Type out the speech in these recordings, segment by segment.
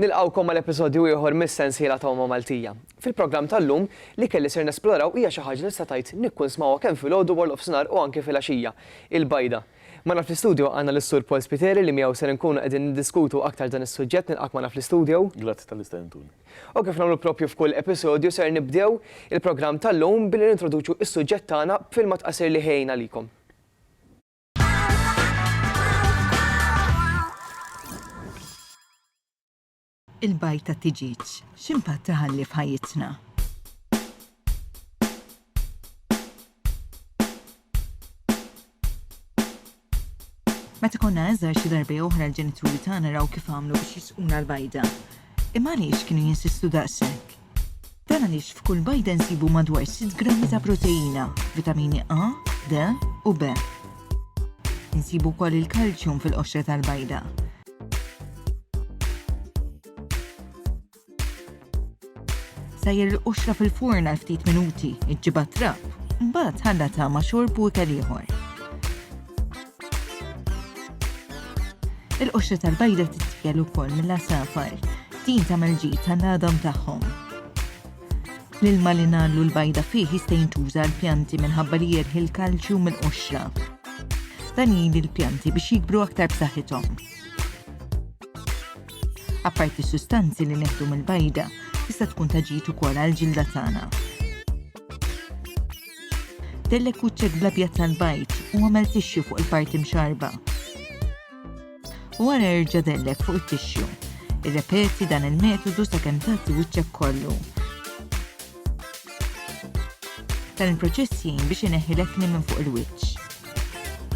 Nilqgħukom għal episodju ieħor mis-sensiela ta' Huma Maltija. Fil-programm tal-lum, l-ikel li ser nesploraw hija xi ħaġa li tista' tgħid nikkun smgħuha kemm filgħodu warnofsinhar u anke filgħaxija, il-bajda. Magħna fl-istudio għandna lis-Sur Paul Spiteri li miegħu ser inkunu qegħdin niddiskutu aktar dan is-suġġett nilqgħak magħna fl-istudio. Grazzi tal-istedentuni. U kif nagħmlu proprju f'kull episodju ser nibdew il-programm tal-lum billi nintroduċu s-suġġett tagħna b'filmat qasir li ħejjejna għalikom. Il-bajd tat-tiġieġ, x'impatt iħalli f'ħajjitna? Meta konna għażar xi darba jew oħra l-ġenituri tagħna raw kif għamlu biex jisquna l-bajda. Imma għaliex kienu jinsistu daqshekk? Dan għaliex f'kull bajda nsibu madwar sitt grammi ta' proteina, vitamini A, D u B. Insibu wkoll il-kalċjum fil-qoxra tal-bajda. Sejjer il-qoxra fil-furn għal ftit minuti, iġġibha trab, mbagħad ħallatha ma' xorb u ikel ieħor. Il-qoxra tal-bajda titfjel ukoll mill-asafar, din tagħmel ġid tal-għadam tagħhom. L-ilma li nagħllu l-bajda fih jista' jintuża l-pjanti minħabba li jerħi l-kalċju mill-qoxra. Dan jgħin il-pjanti biex jikbru aktar b'saħħithom. Apparti s-sustanzi li neħdu mill-bajda, tista' tkun ta' ġid ukoll għall-ġilda tagħna. Tellek kuċċek bl-abjad tal-bajd u għamel tixxu fuq il-parti mxarba. U għara erġa' dellek fuq it-tixxu. Irrepeti dan il-metodu sakemm tagħti wiċċek kollu. Dan il-proċess jgħin biex ineħħi l-ekni minn fuq il-wiċċ.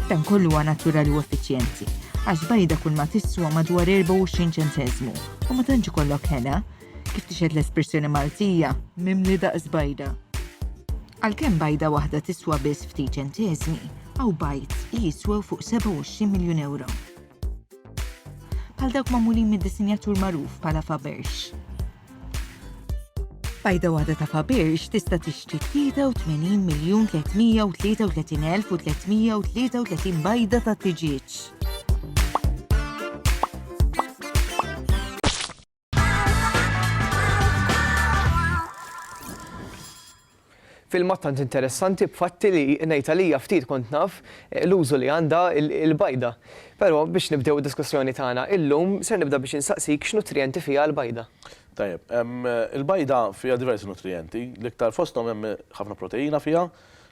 Dan kollu huwa naturali u effiċjenti, għax bajda kull ma tiswa madwar 24 ċentesmu u ma tantx ikollok ħena, kif tixed l-espressjoni Maltija, mimli daqs bajda. Għalkemm bajda waħda tiswa biss ftit ċentesmi, għaw bajt li jiswew fuq 27 miljun euro. bħal dawk magħmulin mid-disinjatur magħruf bħala Faberge. Bajda waħda ta' Faberge tista' tixtri 83 miljun 333,333 bajda ta' tiġieġ. filmat tant interessanti b'fatti li ngħid għalija ftit kont naf eh, l-użu li għandha il-bajda. Però biex nibdew id-diskussjoni tagħna illum ser nibda biex insaqsik x'nutrijenti fiha l-bajda. Tajjeb, il-bajda fiha diversi nutrijenti, l-iktar fosthom hemm ħafna proteina fiha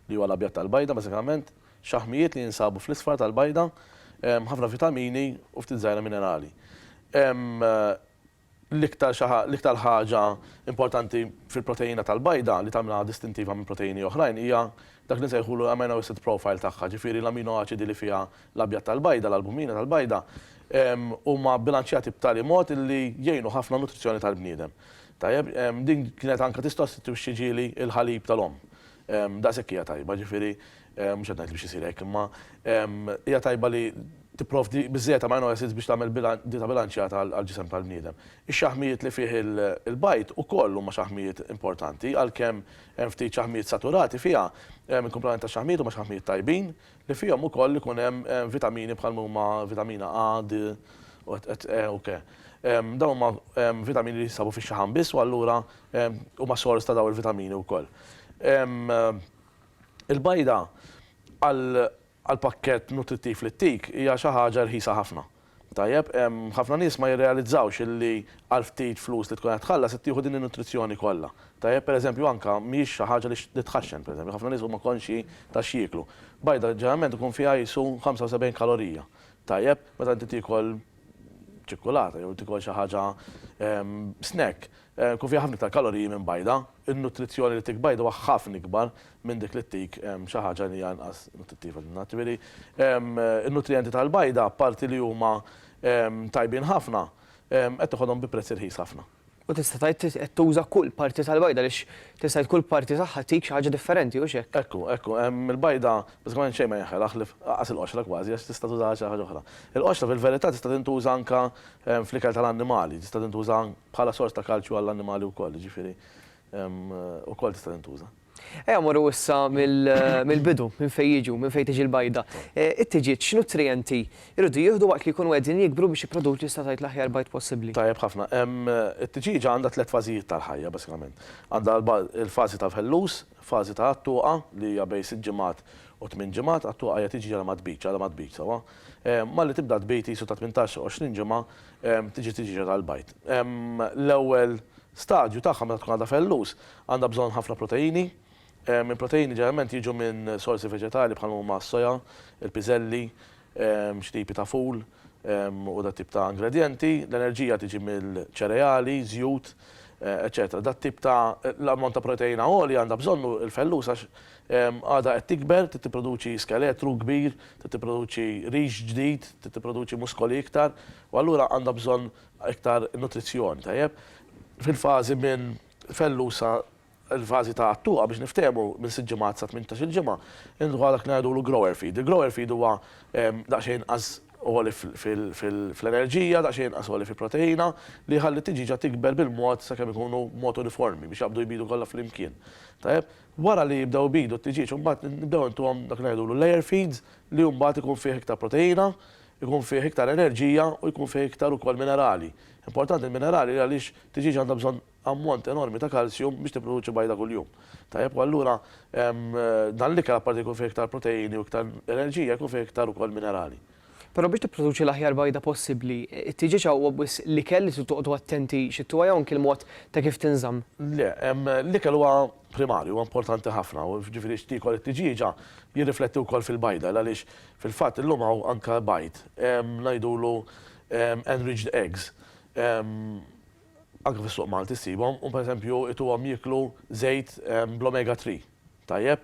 li huwa l-abjad tal-bajda bażikament, Xaħmijiet li jinsabu fl-isfar tal-bajda, ħafna vitamini u ftit żgħira minerali. L-iktar xi l-iktar ħaġa importanti fil-proteina tal-bajda li tagħmilha distintiva minn proteini oħrajn hija dak li nsejħulu l-amino acid profile tagħha, ġifieri l-amino aċidi li fiha l-abjad tal-bajda, l-albumina tal-bajda, huma bbilanċjati b'tali mod illi jgħinu ħafna n-nutrizzjoni tal-bniedem. Tajjeb, din kienet anke tissostitwixxi ġieli l-ħalib tal-omm. Daqshekk hija tajba, jiġifieri, mhux qed ngħid li biex isir hekk, imma hija tajba li tipprovdi biżżejjed amino acids biex tagħmel dieta bilanċjata għall-ġisem tal-bniedem. Ix-xaħmijiet li fih il-bajd ukoll huma xaħmijiet importanti, għalkemm hemm ftit xaħmijiet saturati fiha, il-kumplament tax-xaħmijiet huma xaħmijiet tajbin, li fihom ukoll ikun hemm vitamini bħal ma huma vitamina A, D, u et et E u K. Dawn huma vitamini li jinsabu fix-xaħam biss u allura huma sors ta' dawn il-vitamini wkoll. Il-bajda għall-pakkett nutrittiv li ttik hija xi ħaġa rħisa ħafna. Tajjeb, ħafna nies ma jirrealizzawx illi għal ftit flus li tkun qed tħallas qed tieħu din in-nutrizzjoni kollha. Tajjeb, pereżempju anke mhijiex xi ħaġa li li tħaxxen, pereżempju ħafna nies huma konxji ta' x'jieklu. Bajda ġeneralment ikun fiha qisu 75 kalorija. Tajjeb, meta inti tiekol ċikkulata jew tiekol xi ħaġa snack, ikun fiha ħafna iktar kaloriji minn bajda. In-nutrizzjoni li tik bajda huwa ħafna ikbar minn dik li ttik xi ħaġa li hija inqas nuttittiva minnha. Ġifieri, in-nutrijenti tal-bajda, apparti li huma tajbin ħafna, qed toħodhom bi prezz irħis ħafna. U tista' tgħid qed tuża kull parti tal-bajda għaliex tista' tgħid kull parti tagħha ttik xi ħaġa differenti, hux hekk? Ekku, ekku. Il-bajda bażikament xejn ma jeħela ħlief anqas il-qoxra kważi għax tista' tużaha għal xi ħaġa oħra. Il-qoxra fil-verità tista' tintuża anke fl-ikel tal-annimali, tista' tintuża bħala sors ta' kalċju għall-annimali wkoll, jiġifieri ukoll tista' tintuża. Ejja mmorru issa mill-bidu, minn fejn jiġu, minn fejn tiġi l-bajda. It-tiġieġ x'nutrijenti jridu jieħdu waqt li jkunu qegħdin jikbru biex jipproduċu statajt l-aħjar bajd possibbli? Tajjeb ħafna. It-tiġieġa għandha tliet fażijiet tal-ħajja basikament. Għandha l-fażi tal-fellus, fażi ta' għat-tuqa li hija bejn sitt ġimgħat u tmien ġimgħat, għat-tuqa hija tiġieġa li ma tbidx, għadha ma tbidx sewwa. Malli tibda tbid qisu ta' tmintax, għoxrin ġimgħa tiġi t-tiġieġa tal-bajd. L-ewwel stadju tagħha meta tkun għadha fellus, Għandha bżonn ħafna proteini. Il-proteini ġeneralment jiġu minn sorsi veġetali bħal ma huma s-soja, il-piżelli, xi tipi ta' ful u dat-tip ta' ingredjenti. L-enerġija tiġi mill-ċereali, żjut, eċċetera. Dat-tip ta' l-ammont ta' proteina għoli għandha bżonnu l-fellus għax għadha qed tikber, trid tipproduċi skeletru kbir, trid tipproduċi rix ġdid, trid tipproduċi muskoli iktar u allura għandha bżonn iktar nutrizzjoni, tajjeb? Fil-fażi minn Fellusa l-vażi ta' għattuqa biex niftehmu minn sitt ġimgħat sa tmintax-il ġimgħa. Inhu għadak ngħidulu grower feed. Il-grower feed huwa daqsxejn inqas għoli fl-enerġija, daqsxejn inqas għoli fi proteina, li jħalli t-tiġieġa tikber bil-mod sakemm ikunu b'mod uniformi biex jaqbdu jbidu kollha flimkien. Tajjeb? Wara li jibdew ibidu t-tiġieġ imbagħad nibdew intuhom dak li ngħidulu layer feeds li hu mbagħad ikun fih iktar proteina, ikun fih iktar enerġija u jkun fih iktar ukoll minerali Importanti l-minerali li għaliex tiġieġa għandha bżonn ammont enormi ta' kalsjum biex tipproduċi bajda kuljum. Tajjeb u allura dan l-ikel apparti li jkun fih iktar proteini u iktar enerġija jkun fih iktar ukoll minerali. Però biex tipproduċi l-aħjar bajda possibbli, it-tiġieġa huwa biss l-ikel li trid toqogħdu attenti xi tuha jew anki l-mod ta' kif tinżamm? Le, l-ikel huwa primarju, huwa importanti ħafna, jiġifieri x'tiekol it-tiġieġa jirrifletti wkoll fil-bajda għaliex fil-fatt illum hawn anke bajd ngħidulu Enriched eggs, anke fis-suq Malti ssibhom, u pereżempju ituhom jieklu żejt bl-omega three, tajjeb,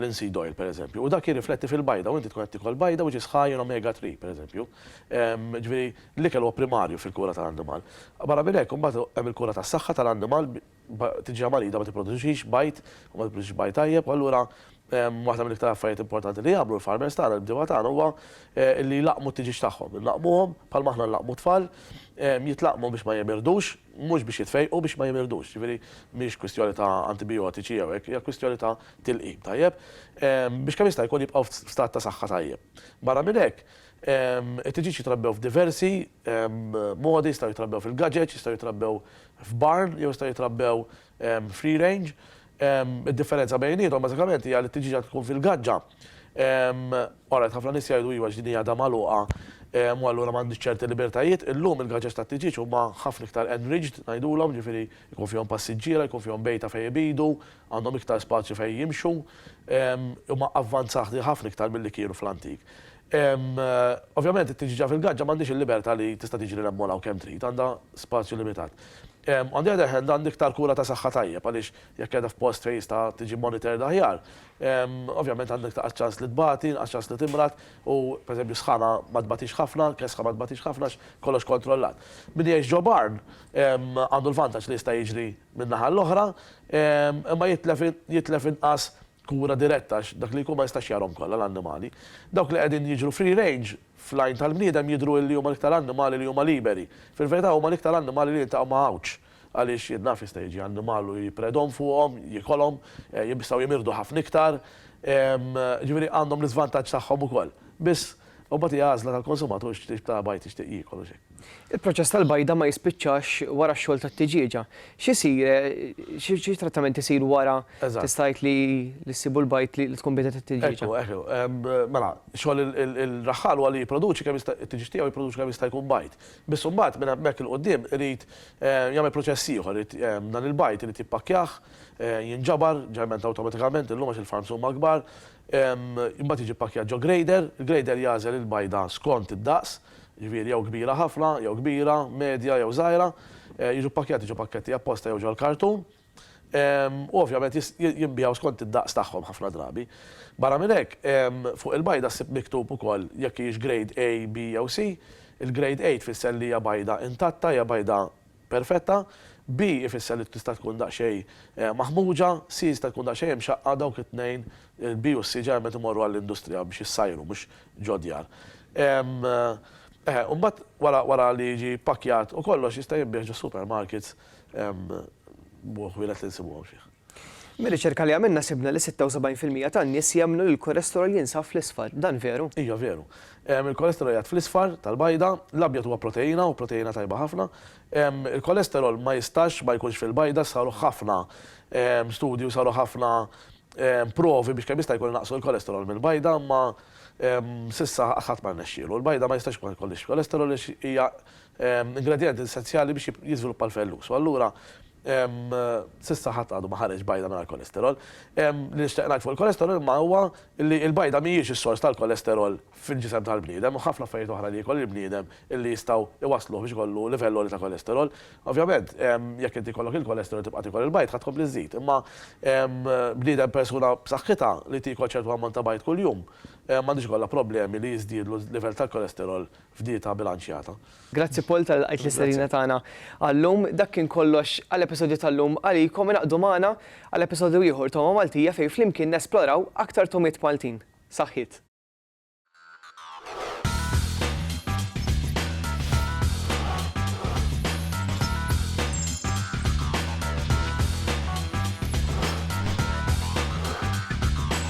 linseed oil pereżempju, u dak jirrifletti fil-bajda u inti tkun qed tiekol bajda which is high in omega three pereżempju. Jiġifieri l-ikel huwa primarju fil-kura tal-annimal. Barra minn hekk imbagħad hemm il-kura tas-saħħa tal-annimal B'tiġrija marida ma tipproduċix bajd u ma tipproduċix bajd tajjeb u allura waħda mill-iktar affarijiet importanti li jagħmlu l-farmers tagħna, l-bdiewa tagħna huwa li jlaqqmu t-tiġieġ tagħhom. Inlaqqmuhom bħalma aħna nlaqqmu t-tfal, jitlaqqmu biex ma jemirdux, mhux biex jitfejqu, biex ma jemirdux. Jiġifieri mhix kwistjoni ta' antibijotiċi jew hekk, hija kwistjoni ta' tilqim tajjeb biex kemm jista' jkun jibqgħu f'stat ta' saħħa tajjeb. Barra minn hekk, it-tiġieġ jitrabbew f'diversi modi, jistgħu jitrabbew fil-gaġeġ, jistgħu jitrabbew f'barn jew jistgħu jitrabbew free range. Id-differenza bejniethom bażikament hija li t-tiġieġa tkun fil-gaġġa. Alright, ħafna nies jgħidu iva għax din hi għadha magħluqa u allura m'għandhiex ċerti libertajiet. Illum il-gaġeġ tat-tiġieġ huma ħafna iktar enriched ngħidulhom, jiġifieri jkun fihom passiġġiera, jkun fihom bejta fejn ibidu, għandhom iktar spazju fejn jimxu. Huma avvanzahti ħafna iktar milli kienu fl-antik. Ovvjament it-tiġġiġa fil-gaġġa m'għandhiex il-libertà li tista' tiġri hemm u hawn kemm trid, għandha spazju limitat. On the other hand, għandha iktar kura ta' saħħa tajjeb għaliex jekk qiegħda f'post fejn jista' tiġi monitored aħjar, ovvjament għandha iktar ċans li tbati, inqas ċans li timrad u, pereżempju, sħana ma tbatix ħafna, kesħa ma tbatix ħafna għax kollox kontrollat. Min jgħix ġo barn għandu l-vantaġġ li jista' jiġri min-naħa l-oħra, imma jitlef inqas kura diretta għax dak li jkun ma jistax jarahom kollha l-annimali. Dawk li qegħdin jiġru free range fl-għajn tal-bniedem jidhru illi huma l-iktar annimali li huma liberi. Fil-verità huma l-iktar annimali li jiltaqgħu ma' għawġ għaliex jien naf jista' jiġi annimal u jipredom fuqhom, jiekolhom, jistgħu jimirdu ħafna iktar, ġifieri għandhom l-iżvantaġġ tagħhom ukoll. Biss, u mbagħad hi għażla tal-konsumatur x'tip ta' bajd jixtieq jiekol u x'hekk. Il-proċess tal-bajda ma jispiċċax wara x-xogħol tat-tiġieġa. X'isir, xi trattament isir wara tista' tgħid li ssibu l-bajd li tkun bidet it-tiġieġa? Ekku, ekku. Mela, xogħol ir-raħħal huwa li jipproduċi kemm jista' it-tiġieġ tiegħu jipproduċi kemm jista' jkun bajd. Biss imbagħad minn hemmhekk 'il quddiem irid jagħmel proċess ieħor, irid dan il-bajd irid jippakkjah, jinġabar, ġeneralment awtomatikament illum għax il-farms huma kbar, Imbagħad jiġi ppakkjat ġo grader. Il-grader jagħżel il-bajda skont id-daqs, jiġifieri jew kbira ħafna, jew kbira, medja jew żgħira. Jiġu ppakkjati ġo pakketti apposta jew ġol-kartun. U ovvjament jinbiegħu skont id-daqs tagħhom ħafna drabi. Barra minn hekk, fuq il-bajda ssib miktub ukoll jekk hijiex grade A, B jew C. Il-grade A tfisser li hija bajda intatta, hija bajda perfetta, B ifisser li tista' tkun daqsxejn maħmuġa, C tista' tkun daqsxejn imxaqqqa, dawk it-tnejn, il-B u s-C ġeneralment imorru għall-industrija biex jissajru mhux ġod-djar. Eħe, u mbagħad wara wara li jiġi ppakkjat u kollox jista' jinbiegħ ġo supermarkets b'ħwienet li nsibuhom fih. Mir-riċerka li għamilna sibna li 76 fil-mija tan-nies jemmnu li l-kolesterol jinsab fl-isfar. Dan veru? Iva veru. Il-kolesterol jgħad fl-isfar, tal-bajda. L-abjad huwa proteina u proteina tajba ħafna. Il-kolesterol ma jistax ma jkunx fil-bajda, saru ħafna studji u saru ħafna provi biex kemm jista' jkun inaqqsu l-kolesterol mill-bajda imma s'issa ħadd ma rnexxielu. Il-bajda ma jistax ma jkollhiex kolesterol għax hija ingredjent essenzjali biex jiżviluppa l-fellus u allura S'issa ħadd għadu ma ħareġ bajda mingħajr kolesterol. Li nixtieq ngħid fuq il-kolesterol imma huwa li l-bajda mhijiex is-sors tal-kolesterol fil-ġisem tal-bniedem u ħafna affarijiet oħra li jiekol il-bniedem illi jistgħu jwassluh biex ikollu livell għoli ta' kolesterol. Ovvjament, jekk inti jkollok il-kolesterol u tibqa' tiekol il-bajd ħa tkompli żżid. Imma bniedem persuna b'saħħitha li tiekol ċertu ammont ta' bajd kuljum m'għandux ikollha problemi li jiżdiedlu l-livell tal-kolesterol f'dieta bilanċjata. Grazzi Paul tal-li lqajt l-istedina tagħna għal-lum. Dak kien kollox għall-episodju tal-lum. Għalikom ingħaqdu magħna għal episodju ieħor ta' Huma Maltija fejn flimkien nesploraw aktar togħmiet Maltin. Saħħiet!